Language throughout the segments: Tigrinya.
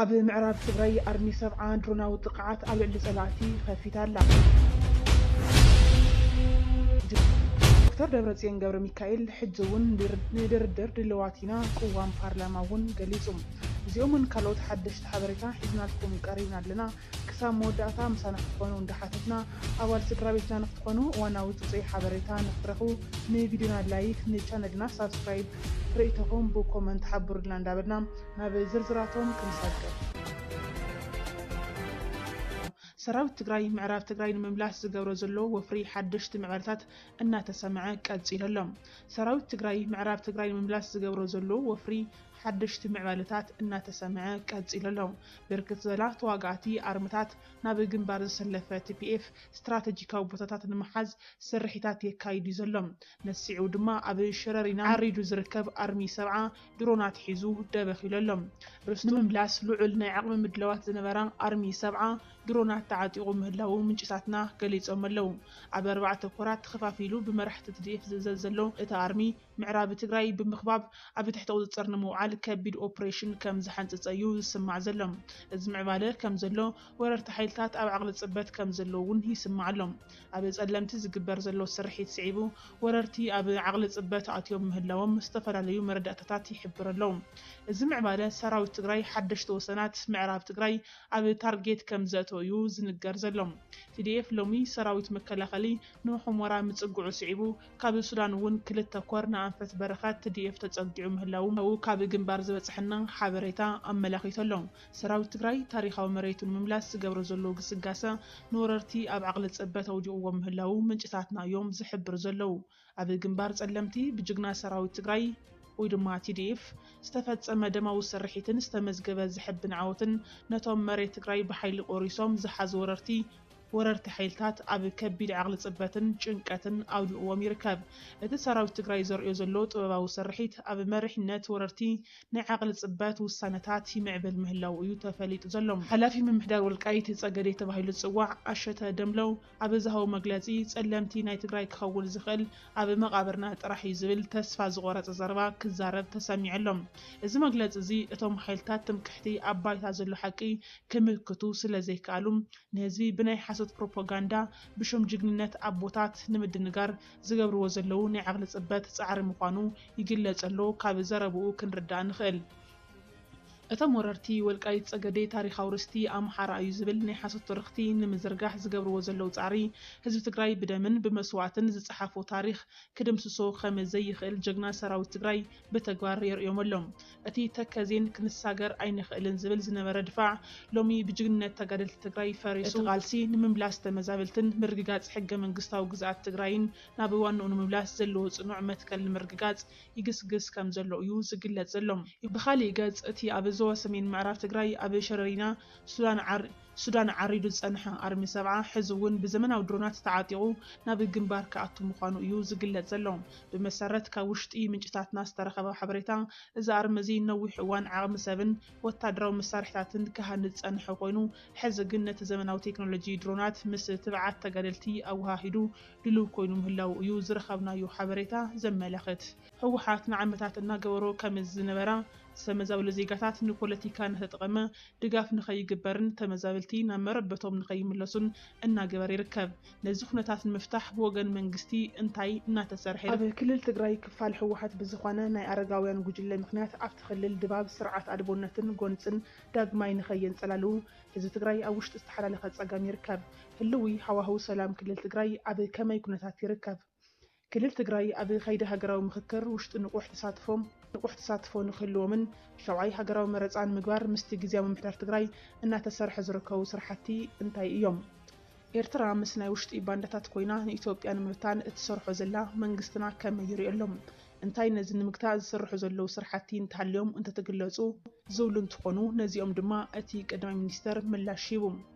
ኣብ ምዕራብ ትግራይ ኣርሚ ሰብዓ ድሮናዊ ጥቕዓት ኣብ ልዕሊ ፀላእቲ ኸፊታ ኣላ። ዶክተር ደብረፅዮን ገብረሚካኤል ሕጂ እውን ንድርድር ድልዋት ኢና ቅዋም ፓርላማ እውን ገሊፁ። እዚኦምን ካልኦት ሓደሽቲ ሓበሬታ ሒዝናልኩም ቀሪብና ኣለና። ክሳብ መወዳእታ ምሳና ክትኾኑ እንዳሓተትና ኣባል ስድራቤትና ንክትኾኑ እዋናዊ ፅፁይ ሓበሬታ ንክትረኽቡ ንቪድዮና ላይክ ንቻነልና ሳብስክራይብ ርኢቶኹም ብኮመንት ሓብሩልና እንዳበልና ናብ ዝርዝራቶም ክንሰግር። ሰራዊት ትግራይ ምዕራብ ትግራይ ንምምላስ ዝገብሮ ዘሎ ወፍሪ ሓደሽቲ ምዕባለታት እናተሰምዐ ቀፂሉ ኣሎ። ሰራዊት ትግራይ ምዕራብ ትግራይ ንምምላስ ዝገብሮ ዘሎ ወፍሪ ሓደሽቲ ምዕባለታት እናተሰምዐ ቀፂሉ ኣሎ። ብርክት ዝበላ ተዋጋእቲ ኣርምታት ናብ ግንባር ዘሰለፈ tpf ስትራተጂካዊ ቦታታት ንምሓዝ ስርሒታት የካይድ ዩ ዘሎ። ነሲዕኡ ድማ ኣብ ሸረሪና ዓሪዱ ዝርከብ ኣርሚ ሰብዓ ድሮናት ሒዙ ደበኽ ኢሉ ኣሎ። ርስቱ ንምምላስ ልዑል ናይ ዓቕሚ ምድላዋት ዝነበራ ኣርሚ ሰብዓ ድሮናት ተዓጢቑ ምህላዉ ምንጭታትና ገሊጾም ኣለዉ። ኣብ ኣርባዕተ ኮራት ተኸፋፊሉ ብመራሕቲ ትዲኤፍ ዝእዘዝ ዘሎ እቲ ኣርሚ፣ ምዕራቢ ትግራይ ብምኽባብ ኣብ ትሕቲ ቁጽጽር ንምውዓል ከቢድ ኦፕሬሽን ከም ዝሓንጸጸ'ዩ ዝስማዕ ዘሎ። እዚ ምዕባለ ከም ዘሎ ወረርቲ ሓይልታት ኣብ ዓቕሊ ጽበት ከም ዘለዉ'ውን ይስማዕ ኣሎ። ኣብ ፀለምቲ ዝግበር ዘሎ ስርሒት ስዒቡ ወረርቲ ኣብ ዓቕሊ ፅበት ኣትዮም ምህላዎም ዝተፈላለዩ መረዳእታታት ይሕብር ኣሎ። እዚ ምዕባለ ሰራዊት ትግራይ ሓደሽቲ ወሰናት ምዕራብ ትግራይ ኣብ ታርጌት ከምዘእተወ እዩ ዝንገር ዘሎ። tdf ሎሚ ሰራዊት መከላኸሊ ንሑሞራ ምፅግዑ ስዒቡ ካብ ሱዳን እውን ክልተ ኮር ንኣንፈት በረኸት tdf ተፀጊዑ ምህላዉ ካብ ግንባር ዝበፀሐና ሓበሬታ ኣመላኺቱ ኣሎ። ሰራዊት ትግራይ ታሪኻዊ መሬቱ ንምምላስ ዝገብሮ ዘሎ ግስጋሰ ንወረርቲ ኣብ ዓቕሊ ፅበት ኣውዲቕዎም ምህላዉ ምንጭታትና እዮም ዝሕብሩ ዘለዉ። ኣብ ግንባር ፀለምቲ ብጅግና ሰራዊት ትግራይ ወይ ድማ tdf ዝተፈፀመ ደማዊ ስርሒትን ዝተመዝገበ ዘሕብን ዓወትን ነቶም መሬት ትግራይ ብሓይሊ ቆሪሶም ዝሓዙ ወረርቲ ወረርቲ ሓይልታት ኣብ ከቢድ ዓቕሊ ፅበትን ጭንቀትን ኣውዲቕዎም ይርከብ። እቲ ሰራዊት ትግራይ ዘርእዮ ዘሎ ጥበባዊ ስርሒት ኣብ መሪሕነት ወረርቲ ናይ ዓቕሊ ፅበት ውሳነታት ይምዕብል ምህላዉ እዩ ተፈሊጡ ዘሎ። ሓላፊ ምምሕዳር ወልቃይት ፀገዴ ተባሂሉ ዝፅዋዕ ኣሸተ ደምለው ኣብ ዝሃቦ መግለፂ ፀለምቲ ናይ ትግራይ ክኸውን ዝኽእል ኣብ መቓብርና ጥራሕ እዩ ዝብል ተስፋ ዝቖረፀ ዘረባ ክዛረብ ተሰሚዑ ኣሎ። እዚ መግለፂ እዚ እቶም ሓይልታት ትምክሕቲ ኣብ ባይታ ዘሎ ሓቂ ክምክቱ ስለ ዘይከኣሉ፣ ንህዝቢ ብናይ ሓሶት ፕሮፖጋንዳ ብሹም ጅግንነት ኣቦታት ንምድንጋር ዝገብርዎ ዘለዉ ናይ ዓቕሊ ጽበት ጻዕሪ ምዃኑ ይግለጽ ኣሎ ካብ ዘረብኡ ክንርዳእ ንኽእል። እቶም ወረርቲ ወልቃይት ጸገዴ ታሪኻዊ ርስቲ ኣምሓራ እዩ ዝብል ናይ ሓሶት ትርኽቲ ንምዝርጋሕ ዝገብርዎ ዘለዉ ጻዕሪ ህዝቢ ትግራይ ብደምን ብመስዋእትን ዝጸሓፎ ታሪኽ ክድምስሶ ከም ዘይኽእል ጀግና ሰራዊት ትግራይ ብተግባር የርእዮም ኣሎ። እቲ ተከዜን ክንሳገር ኣይንኽእልን ዝብል ዝነበረ ድፋዕ ሎሚ ብጅግንነት ተጋደልቲ ትግራይ ፈሪሱ። እቲ ቃልሲ ንምምላስ ተመዛበልትን ምርግጋፅ ሕገ መንግስታዊ ግዝኣት ትግራይን ናብ ዋንኡ ንምምላስ ዘለዎ ፅኑዕ መትከል ንምርግጋፅ ይግስግስ ከምዘሎ እዩ ዝግለፅ ዘሎ። ብኻሊእ ገፅ እቲ ኣብ ዞባ ሰሜን ምዕራብ ትግራይ ኣብ ሸረሪና፣ ሱዳን ዓር፣ ሱዳን ዓሪዱ ዝጸንሐ ኣርሚ ሰብዓ ሕዚ እውን ብዘመናዊ ድሮናት ተዓጢቑ ናብ ግንባር ክኣቱ ምዃኑ እዩ ዝግለጽ ዘሎ። ብመሰረት ካብ ውሽጢ ምንጭታትና ዝተረኸበ ሓበሬታ፣ እዚ ኣርሚ እዚ ንነዊሕ እዋን ዓቕሚ ሰብን ወታደራዊ መሳርሒታትን ክሃንጽ ዝጸንሐ ኮይኑ፣ ሕዚ ግን ነቲ ዘመናዊ ቴክኖሎጂ ድሮናት ምስ ትብዓት ተጋደልቲ ኣወሃሂዱ ድሉው ኮይኑ ምህላዉ እዩ ዝረኸብናዮ ሓበሬታ ዘመላኽት። ህወሓት ንዓመታት እናገበሮ ከም ዝነበራ ዝተመዛበሉ ዜጋታት ንፖለቲካ እናተጠቐመ ድጋፍ ንከይግበርን ተመዛበልቲ ናብ መረበቶም ንከይምለሱን እናገበረ ይርከብ። ነዚ ኩነታት ንምፍታሕ ብወገን መንግስቲ እንታይ እናተሰርሐ ይርከብ? ኣብ ክልል ትግራይ ክፋል ህወሓት ብዝኾነ ናይ ኣረጋውያን ጉጅለ ምኽንያት ኣብቲ ክልል ድባብ ስርዓት ኣልቦነትን ጎንፅን ዳግማይ ንከየንፀላልዉ ህዝቢ ትግራይ ኣብ ውሽጢ ዝተሓላለኸ ፀገም ይርከብ። ህልዊ ሃዋህው ሰላም ክልል ትግራይ ኣብ ከመይ ኩነታት ይርከብ? ክልል ትግራይ ኣብ ከይዲ ሃገራዊ ምኽክር ውሽጢ ንቑሕ ተሳትፎም ንቑሕ ተሳትፎ ንክህልዎምን ሻውዓይ ሃገራዊ መረፃ ንምግባር ምስቲ ግዝያዊ ምምሕዳር ትግራይ እናተሰርሐ ዝርከቡ ስራሕቲ እንታይ እዮም? ኤርትራ ምስ ናይ ውሽጢ ባንዳታት ኮይና ንኢትዮጵያ ንምብታን እትሰርሖ ዘላ መንግስትና ከመይ ይሪኦ ኣሎ? እንታይ ነዚ ንምግታእ ዝስርሑ ዘለዉ ስራሕቲ እንተሃልዮም እንተትግለፁ ዝብሉ እንትኾኑ ነዚኦም ድማ እቲ ቀዳማይ ሚኒስትር ምላሽ ሂቡ።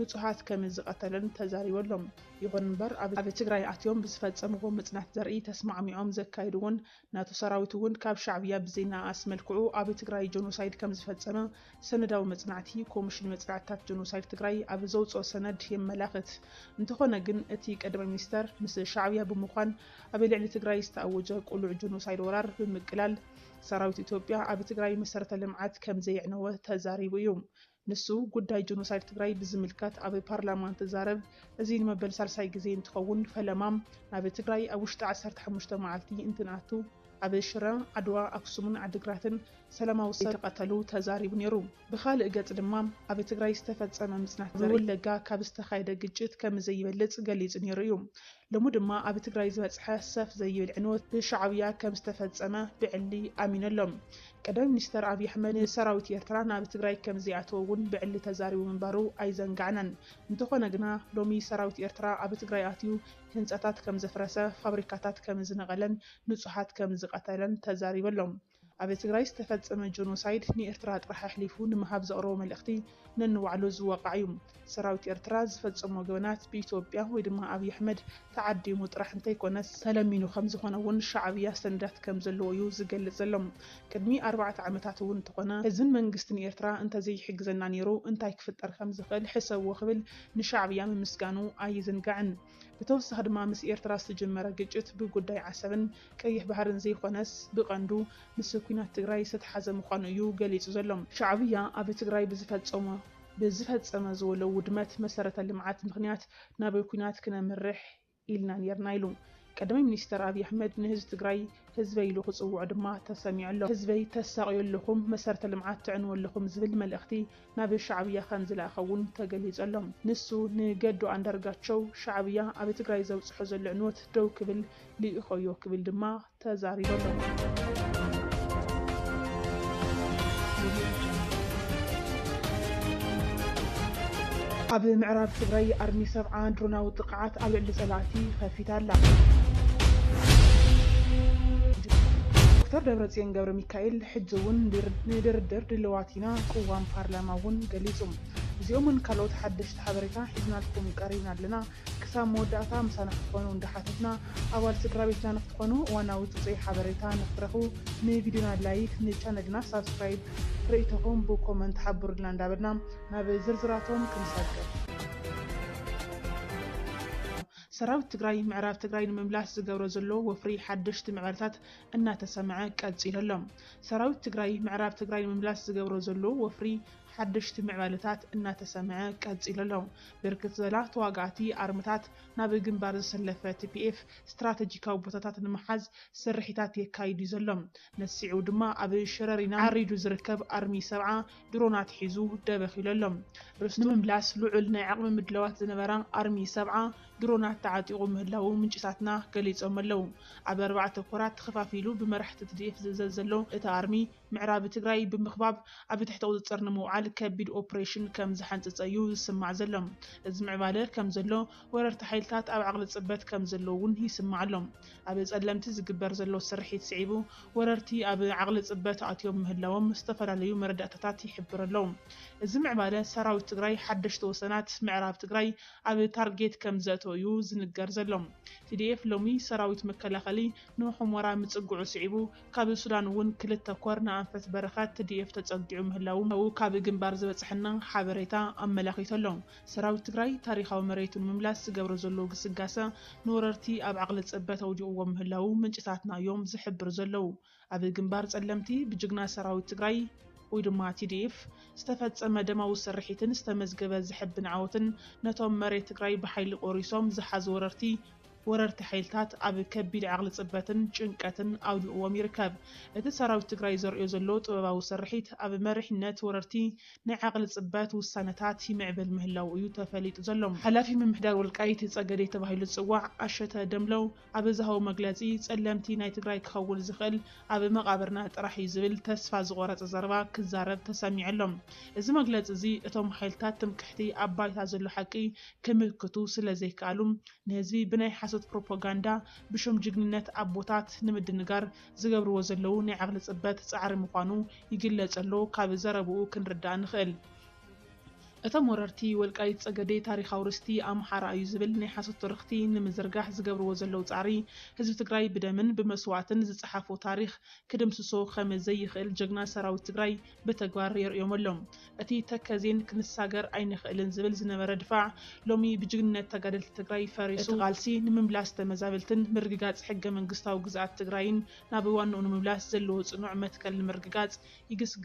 ንፁሃት ከመዝቐተለን ተዛሪበሎም። ይኹን እምበር ኣብ ትግራይ ኣትዮም ብዝፈፀምዎ ምፅናት ዘርኢ ተስማዕሚዖም ዘካየድዎን ናቱ ሰራዊት እውን ካብ ሻዕብያ ብዘይነኣኣስ መልክዑ ኣብ ትግራይ ጀኖሳይድ ከምዝፈፀመ ሰነዳዊ መፅናዕቲ ኮሚሽን መፅናዕትታት ጀኖሳይድ ትግራይ ኣብ ዘውፅኦ ሰነድ የመላኽት። እንተኾነ ግን እቲ ቀዳማይ ሚኒስተር ምስ ሻዕብያ ብምዃን ኣብ ልዕሊ ትግራይ ዝተኣወጀ ቅሉዕ ጀኖሳይድ ወራር ብምቅላል ሰራዊት ኢትዮጵያ ኣብ ትግራይ መሰረተ ልምዓት ከምዘየዕነወ ተዛሪቡ እዩ። ንሱ ጉዳይ ጆኖሳይድ ትግራይ ብዝምልከት ኣብ ፓርላማ እንትዛረብ እዚ ንመበል ሳልሳይ ግዜ እንትኸውን ፈለማ ናብ ትግራይ ኣብ ውሽጢ ዓሰርተ ሓሙሽተ መዓልቲ እንትንኣቱ ኣብ ሽረ፣ ዓድዋ፣ ኣክሱምን ዓዲግራትን ሰላማዊ ሰብ ከምዝተቐተሉ ተዛሪቡ ነይሩ። ብኻልእ ገፅ ድማ ኣብ ትግራይ ዝተፈፀመ ምፅናት ዘርኢ ኣብ ወለጋ ካብ ዝተኻየደ ግጭት ከምዘይበልፅ ገሊፁ ነይሩ እዩ። ሎሚ ድማ ኣብ ትግራይ ዝበፅሐ ሰፍ ዘይብል ዕንወት ብሻዕብያ ከም ዝተፈፀመ ብዕሊ ኣሚኑ ኣሎ። ቀዳማይ ሚኒስተር ኣብይ ኣሕመድ ንሰራዊት ኤርትራ ናብ ትግራይ ከም ዘይኣተወ እውን ብዕሊ ተዛሪቡ ምንባሩ ኣይዘንጋዕናን። እንተኾነ ግና ሎሚ ሰራዊት ኤርትራ ኣብ ትግራይ ኣትዩ ህንፃታት ከም ዘፍረሰ፣ ፋብሪካታት ከም ዝነቐለን ንፁሃት ከም ዝቐተለን ተዛሪቡ ኣሎ። ኣብ ትግራይ ዝተፈጸመ ጆኖሳይድ ንኤርትራ ጥራሕ ኣሕሊፉ ንምሃብ ዘቕረቦ መልእኽቲ ነንባዕሉ ዝወቓዕ እዩ። ሰራዊት ኤርትራ ዝፈጸሞ ገበናት ብኢትዮጵያ ወይ ድማ ኣብይ ኣሕመድ ተዓዲሙ ጥራሕ እንተይኮነስ፣ ተለሚኑ ከምዝኾነ እውን ሻዕብያ ሰነዳት ከምዘለዎ እዩ ዝገልጽ ዘሎ። ቅድሚ ኣርባዕተ ዓመታት እውን እንተኾነ ህዝብን መንግስትን ኤርትራ እንተዘይሕግዘና ነይሩ እንታይ ክፍጠር ከምዝኽእል ሕሰብዎ ክብል ንሻዕብያ ምምስጋኑ ኣይዝንጋዕን። ብተወሳኺ ድማ ምስ ኤርትራ ዝተጀመረ ግጭት ብጉዳይ ዓሰብን ቀይሕ ባህርን ዘይኮነስ ብቀንዱ ምስ ኩናት ትግራይ ዝተትሓዘ ምዃኑ እዩ ገሊጹ ዘሎ። ሻዕብያ ኣብ ትግራይ ብዝፈጸሞ ብዝፈጸመ ዝበሎ ውድመት መሰረተ ልምዓት ምኽንያት ናብ ኩናት ክነምርሕ ኢልና ኔርና ኢሉ። ቀዳማይ ሚኒስተር ኣብይ ኣሕመድ ንህዝቢ ትግራይ ህዝበይ ኢሉ ክጽውዖ ድማ ተሰሚዑ ኣሎ። ህዝበይ ተሳቕዩ ኣለኹም መሰረተ ልምዓት ትዕንዉ ኣለኹም ዝብል መልእኽቲ ናብ ሻዕብያ ከምዝለኣኸ እውን ተገሊፁ ኣሎ። ንሱ ንገዱ ኣንዳርጋቸው ሻዕብያ ኣብ ትግራይ ዘብፅሖ ዘሎ ዕንወት ደው ክብል ልኢኾዮ ክብል ድማ ተዛሪቡ ኣሎ። ኣብ ምዕራብ ትግራይ ኣርሚ ሰብዓ ድሮናዊ ጥቕዓት ኣብ ልዕሊ ፀላእቲ ኸፊታ ኣላ። ዶክተር ደብረፅዮን ገብረሚካኤል ሕጂ እውን ንድርድር ድልዋት ተፈቲና ቅዋም ፓርላማ እውን ገሊፁ። እዚኦምን ካልኦት ሓደሽቲ ሓበሬታ ሒዝናልኩም ቀሪብና ኣለና። ክሳብ መወዳእታ ምሳና ክትኾኑ እንዳሓተትና ኣባል ስድራቤትና ንክትኾኑ እዋናዊ ፅፁይ ሓበሬታ ንክትረኽቡ ንቪድዮና ላይክ ንቻነልና ሳብስክራይብ ርኢቶኹም ብኮመንት ሓብሩልና እንዳበልና ናብ ዝርዝራቶም ክንሰግር። ሰራዊት ትግራይ ምዕራብ ትግራይ ንምምላስ ዝገብሮ ዘሎ ወፍሪ ሓደሽቲ መዕረታት እናተሰምዐ ቀፂሉ ኣሎ። ሰራዊት ትግራይ ምዕራብ ትግራይ ንምምላስ ዝገብሮ ዘሎ ወፍሪ ሓደሽቲ ምዕባለታት እናተሰምዐ ቀፂሉ ኣሎ። ብርክት ዝበላ ተዋጋእቲ ኣርምታት ናብ ግንባር ዘሰለፈ ቲፒኤፍ ስትራተጂካዊ ቦታታት ንምሓዝ ስርሒታት የካይድ እዩ ዘሎ። ነዚ ስዒቡ ድማ ኣብ ሽረሪና ዓሪዱ ዝርከብ ኣርሚ ሰብዓ ድሮናት ሒዙ ደበኺሉ ኣሎ። ርስቱ ንምምላስ ልዑል ናይ ዓቕሚ ምድላዋት ዝነበራ ኣርሚ ሰብዓ ድሮናት ተዓጢቑ ምህላዉ ምንጭታትና ገሊጾም'ለዉ። ኣብ ኣርባዕተ ኮራት ተኸፋፊሉ ብመራሕቲ ትዲኤፍ ዝእዘዝ ዘሎ እቲ ኣርሚ፣ ምዕራብ ትግራይ ብምኽባብ ኣብ ትሕቲ ቁጽጽር ንምውዓል ከቢድ ኦፕሬሽን ከም ዝሓንጸጸ'ዩ ዝስማዕ ዘሎ። እዚ ምዕባለ ከም ዘሎ፣ ወረርቲ ሓይልታት ኣብ ዓቕሊ ጽበት ከም ዘለዉ'ውን ይስማዕ ኣሎ። ኣብ ጸለምቲ ዝግበር ዘሎ ስርሒት ስዒቡ፣ ወረርቲ ኣብ ዓቕሊ ጽበት ኣትዮም ምህላዎም ዝተፈላለዩ መረዳእታታት ይሕብር'ሎ። እዚ ምዕባለ፣ ሰራዊት ትግራይ ሓደሽቲ ወሰናት ምዕራብ ትግራይ ኣብ ታርጌት ከም ዘእተወ'ዩ ዝንገር ዘሎ። ቲዲኤፍ ሎሚ ሰራዊት መከላኸሊ ንሑሞራ ምጽግዑ ስዒቡ ካብ ሱዳን'ውን ክልተ ኮር ንኣንፈት በረኻ ትዲኤፍ ተጸጊዑ ምህላዉ ካብ ግንባር ዝበጽሐና ሓበሬታ ኣመላኺቱ'ሎ። ሰራዊት ትግራይ ታሪኻዊ መሬቱ ንምምላስ ዝገብሮ ዘሎ ግስጋሰ ንወረርቲ ኣብ ዓቕሊ ጽበት ኣውዲቕዎም ምህላዉ ምንጭታትና'ዮም ዝሕብሩ ዘለዉ። ኣብ ግንባር ፀለምቲ ብጅግና ሰራዊት ትግራይ ወይ ድማ tdf ዝተፈፀመ ደማዊ ስርሒትን ዝተመዝገበ ዘሕብን ዓወትን ነቶም መሬት ትግራይ ብሓይሊ ቆሪሶም ዝሓዙ ወረርቲ ወረርቲ ሓይልታት ኣብ ከቢድ ዓቕሊ ፅበትን ጭንቀትን ኣውዲቕዎም ይርከብ። እቲ ሰራዊት ትግራይ ዘርእዮ ዘሎ ጥበባዊ ስርሒት ኣብ መሪሕነት ወረርቲ ናይ ዓቕሊ ፅበት ውሳነታት ይምዕብል ምህላዉ እዩ ተፈሊጡ ዘሎ። ሓላፊ ምምሕዳር ወልቃይት ፀገዴ ተባሂሉ ዝፅዋዕ ኣሸተ ደምለው ኣብ ዝሃቦ መግለጺ፣ ጸለምቲ ናይ ትግራይ ክኸውን ዝኽእል ኣብ መቓብርና ጥራሕ እዩ ዝብል ተስፋ ዝቖረጸ ዘረባ ክዛረብ ተሰሚዑ ኣሎ። እዚ መግለጺ እዚ እቶም ሓይልታት ትምክሕቲ ኣብ ባይታ ዘሎ ሓቂ ክምክቱ ስለ ዘይከኣሉ ንህዝቢ ብናይ ሓሶት ፕሮፖጋንዳ ብሹም ጅግንነት ኣቦታት ንምድንጋር ዝገብርዎ ዘለዉ ናይ ዓቕሊ ጽበት ጻዕሪ ምዃኑ ይግለጸሎ ካብ ዘረብኡ ክንርዳእ ንኽእል። እቶም ወረርቲ ወልቃይት ፀገዴ ታሪኻዊ ርስቲ ኣምሓራ እዩ ዝብል ናይ ሓሶት ትርኽቲ ንምዝርጋሕ ዝገብርዎ ዘለው ፃዕሪ ህዝቢ ትግራይ ብደምን ብመስዋእትን ዝፀሓፎ ታሪኽ ክድምስሶ ከም ዘይኽእል ጀግና ሰራዊት ትግራይ ብተግባር የርእዮም ኣሎ። እቲ ተከዜን ክንሳገር ኣይንኽእልን ዝብል ዝነበረ ድፋዕ ሎሚ ብጅግንነት ተጋደልቲ ትግራይ ፈሪሱ። እቲ ቃልሲ ንምምላስ ተመዛበልትን ምርግጋፅ ሕገ መንግስታዊ ግዝኣት ትግራይን ናብ ዋንኡ ንምምላስ ዘለዎ ፅኑዕ መትከል ንምርግጋፅ ይግስግስ።